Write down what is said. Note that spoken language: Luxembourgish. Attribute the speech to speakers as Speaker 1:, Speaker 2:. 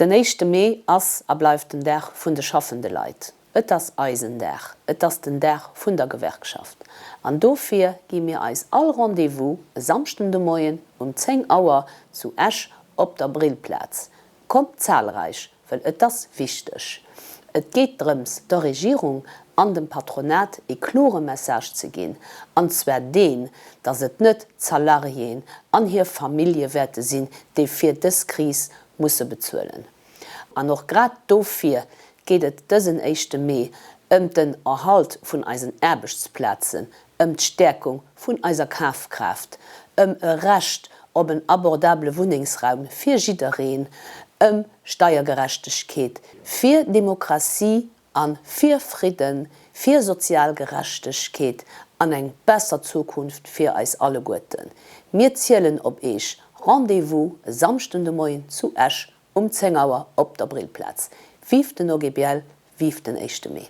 Speaker 1: Den éischte Mee ass a bleift den Dag vun de schaffende Leit. Et ass eisen Dag, et ass den Dag vun der Gewerkschaft. An dofir gi mir eis all Rendez-vous e Samschden de Moien um 10 Auer zu Esch op der Brillplaz. Kommt zahlreich Well et ass wichteg. Et geet drëms, der Regierung an dem Patronat ee klore Message ze ginn, an zwar deen, dass et net d'Salariéen an hir Famillje wäerte sinn, déi fir dës Kris musse bezuelen. An och grad dofir geet et dësen éischte Mee, ëm den Erhalt vun eisen Aarbechtsplazen, ëm d'Stäerkung vun eiser Kafkraaft, ëm e Recht op en abordabele Wunnengsraum fir jiddereen, ëm Steiergerechtegkeet, fir Demokratie a fir Fridden, fir sozial Gerechtegkeet an eng besser Zukunft fir eis alleguerten. Mir zielen op Eech, Rendez-vous e Samschden de Moien zu Esch um 10 Auer op der Brillplaz. Vive den OGBL, vive den éischte Mee!